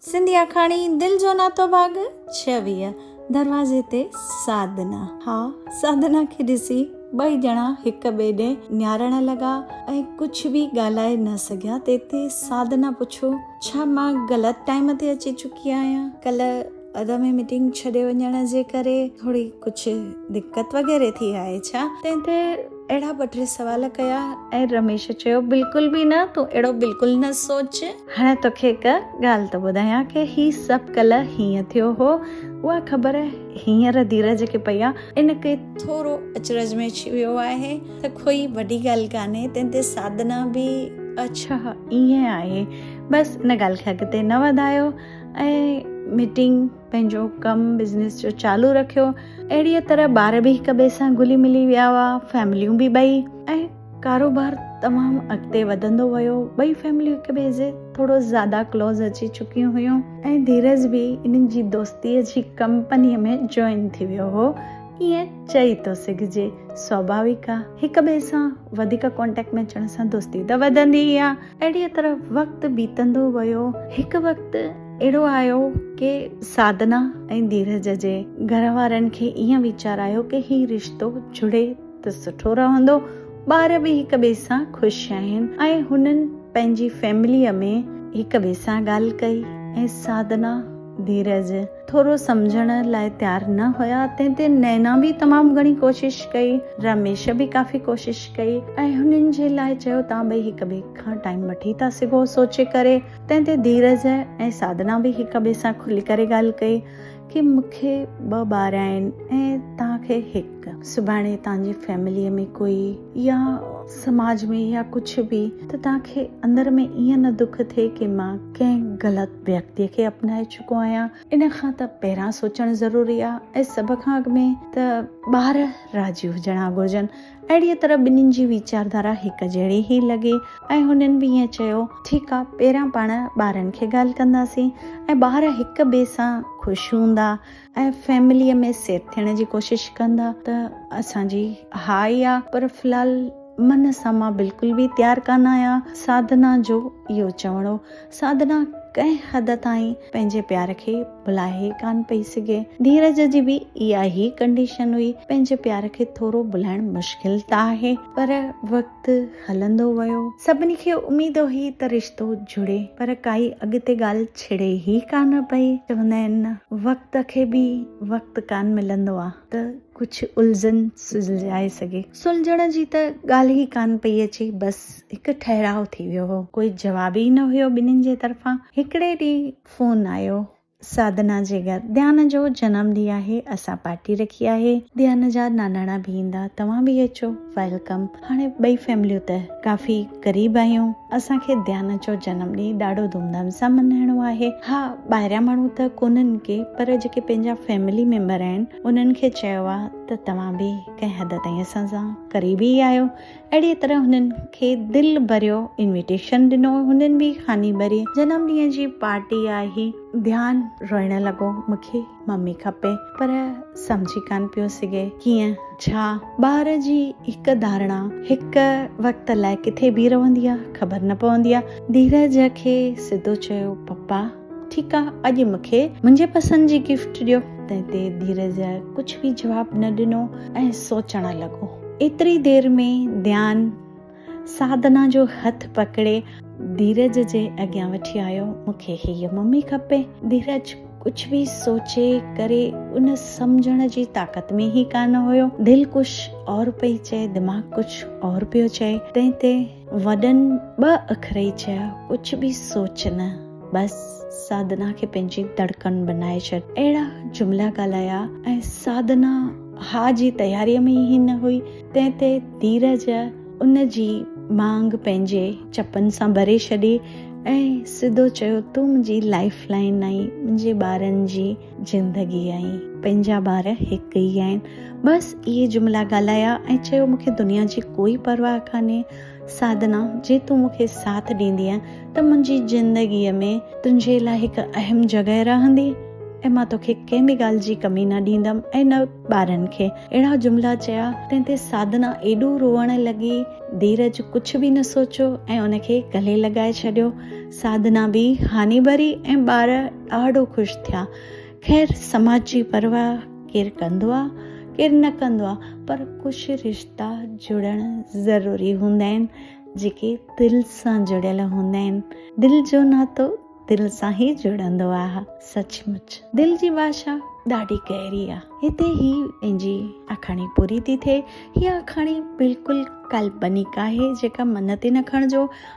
سنڌي آکاڻي دل جو ناتو ڀاڳ ڇويهه دروازي تي سادنا ها سادنا کي ڏسي ٻئي ڄڻا هڪ ٻئي ڏي نهارڻ لڳا ۽ ڪجهه به ڳالهائي نه سگهيا تيتي سادنا پڇيو ڇا مان غلط ٽائيم تي اچي چڪي آهيان ڪلهه اڌ ۾ ميٽنگ ڇڏي وڃڻ جي ڪري ٿوري ڪجهه دقت وغيره ٿي آهي ڇا تنهن تي اهڙا ٻه ٽي سوال ڪيا ۽ رميش چيو بلڪل به نه تون اهڙو بلڪل نه سوچ هاڻي توکي هڪ ڳالهه ته ٻڌايان ڪي هي سڀ ڪلهه هيئن ٿيو هو اها خبر هينئر ڌيرج کي پئي آ ان ڪري ٿورو اچرج ۾ اچي ويو آهي ته ڪوئي وڏي ڳالهه ڪانهي تنهن تي سادنا به اڇا هي آهي بس ان ڳالهه کي اڳتي نه وڌايو ۽ ميٽنگ پنهنجو ڪم بزنس جو چالو رکيو اهڙيء طرح ٻار به هڪ ٻئي سان گلي ملي ويا هئا فيمليون به ٻئي ۽ ڪاروبار تمام اڳتي وڌندو ويو ٻئي فيمليون هڪ ٻئي جي ٿورو زياده ڪلوز اچي چڪيون هيون ۽ ڌيرج به انهن جي دوستيء جي ڪمپنيء ۾ جوائن ٿي ويو هو ائين چئي ٿو سگهجي سوڀاويڪ آهي هڪ ٻئي سان وڌيڪ ڪانٽيڪٽ ۾ اچڻ سان دوستي ته وڌندي ئي آهي اهڙيء طرح وقت بيتندو ويو. هڪ وقت اهڙو آيو ڪي سادنا ۽ ڌيرج جي گهر وارن کي ائين ويچار آيو ڪي هي رشتو جڙي ته سٺو رهندو، ٻار به هڪ ٻئي سان خوش آهن ۽ هنن پنهنجي فيمليء ۾ هڪ ٻئي سان ڳالهه ڪئي ۽ سادنا، ڌيرج ٿورو سمجهڻ لاء تيار نه هيا، تنهن تي نينا به تمام گهڻي ڪوشش ڪئي، رميش به ڪافي ڪوشش ڪئي ۽ هنن جي لاء چيو توهان ٻئي هڪ ٻئي کان ٽائيم وٺي ٿا سگهو سوچي ڪري، تنهن تي ڌيرج ۽ سادنا به هڪ ٻئي سان کلي ڪري ڳالهه ڪئي ڪي مون کي ٻه ٻار آهن ۽ توهان کي هڪ، سڀاڻي توهان جي فيمليء ۾ ڪوئي يا سماج ۾ يا ڪجهه به ته توهان کي اندر ۾ ائين نه دک ٿئي ڪي مان ڪنهن غلط. ويڪتي کي اپنائي چڪو آهيان ان کان ته پهران سوچڻ ضروري آهي ۽ سڀ کان اڳ ۾ ته ٻار راضي هجڻا گهرجن اهڙيء طرح ٻنهين جي ويچاردارا هڪ جهڙي ئي لڳي ۽ هنن به ائين چيو ٺيڪ آهي پهريان پاڻ ٻارن کي ڳالهه ڪنداسين ۽ ٻار هڪ ٻئي سان خوش هوندا ۽ فيمليء ۾ سيٽ ٿيڻ جي ڪوشش ڪندا ته اسان جي ها ئي آ پر في الحال من سان مان بلڪل به تيار ڪانه آهيان ساڌنا جو اهو چوڻ هو ساڌنا ڪنهن حد تائين پنهنجي پيار کي ڀلائي ڪانه پئي سگهي ڌيرج جي به اها ئي ڪنڊيشن هئي پنهنجي پيار کي ٿورو ڀلائڻ مشڪل ته آهي پر وقت هلندو ويو. سڀني کي اميد هئي ته رشتو جڙي پر ڪائي اڳتي ڳالهه ڇڙي ئي ڪانه پئي. چوندا آهن نه وقت کي به وقت ڪانه ملندو آ ته ڪجهه الجهن سلجهائي سگهي. سلجهڻ جي ته ڳالهه ئي ڪانه پئي اچي بس هڪ ٺهراء ٿي ويو هو. ڪوئي جواب ئي نه هيو ٻنهين جي طرفان. هڪڙي ڏينهن فون آيو سادنا جي گهر ڌيان جو جنم ڏينهن آهي اسان پارٽي رکي آهي ڌيان جا ناناڻا به ايندا توهان به اچو ويلڪم هاڻي ٻئي فيمليون ته ڪافي قريب آهيون اسان کي ڌيان جو جنم ڏينهن ڏاڍو ڌوم ڌام سان ملهائڻو آهي ها ٻاهريان ماڻهو ته ڪونهن ڪي پر جيڪي پنهنجا فيملي ميمبر آهن انهن کي چيو آهي ته توهان به ڪنهن حد تائين اسان سان قريب ئي آهيو اهڙيء طرح هنن کي دل ڀريو انويٽيشن ڏنو. هنن به خاني ڀري. جنم ڏينهن جي پارٽي آهي. ڌيان روئڻ لڳو. مون کي ممي کپي. پر سمجهي ڪانه پيو سگهي. ڪيئن؟ ڇا؟ ٻار جي هڪ ڌارڻا هڪ وقت لاء ڪٿي بيهي رهندي آهي، خبر نه پوندي آهي. ڌيرج کي سڌو چيو، پپا! ٺيڪ آ اڄ مون کي منهنجي پسند جي گفٽ ڏيو. تنهن تي ڌيرج ڪجهه به جواب نه ڏنو ۽ سوچڻ لڳو. ايتري دير ۾ ديان سادنا جو هٿ پڪڙي ڌيرج جي اڳيان وٺي آيو. مون کي هيء ممي کپي. ڌيرج ڪجهه به سوچي ڪري ان سمجهڻ جي طاقت ۾ ئي ڪانه هيو. دل ڪجهه اور پئي چئي دماغ ڪجهه اور پيو چئي. تنهن تي وڏن ٻه اکر ئي چيا، ڪجهه به سوچ نه، بس سادنا کي پنهنجي دڙڪن بنائي ڇڏ. اهڙا جملا ڳالهايا ۽ سادنا ها جي تياريء ۾ ئي نه هئي، تنهن تي ڌيرج ان جي مانگ پنهنجي چپن سان ڀري ڇڏي ۽ سڌو چيو، تون منهنجي لائيف لائين آهين، منهنجي ٻارن جي زندگي ۽ پنهنجا ٻار هڪ ئي آهن. بس اهي جملا ڳالهايا ۽ چيو مون کي دنيا جي ڪوئي پرواهه ڪانهي سادنا جي تون مون کي ساٿ ڏيندينء ته منهنجي زندگي ۾ تنهنجي لاء هڪ اهم جڳهه رهندي ۽ مان توکي ڪنهن به ڳالهه جي ڪمي نه ڏيندم ۽ نه ٻارن کي اهڙا جملا چيا تنهن تي سادنا ايڏو روئڻ لڳي ڌيرج ڪجهه به نه سوچيو ۽ ان کي گلي لڳائي ڇڏيو. ساڌنا به هاني ڀري ۽ ٻار ڏاڍو خوش ٿيا. خير سماج جي پرواهه ڪير ڪندو آ ڪير نه ڪندو آ پر ڪجهه رشتا جڙڻ ضروري هوندا آهن جيڪي دل سان جڙيل هوندا آهن. دل جو ناتو دل سان هي جڙندو آ. سچ مچ دل جي ڀاشا ڏاڍي گهري آ. هتي هي پنهنجي آکاڻي پوري ٿي ٿئي. هيء آکاڻي بلڪل ڪالپنڪ آهي جيڪا من تي نه کڻجو.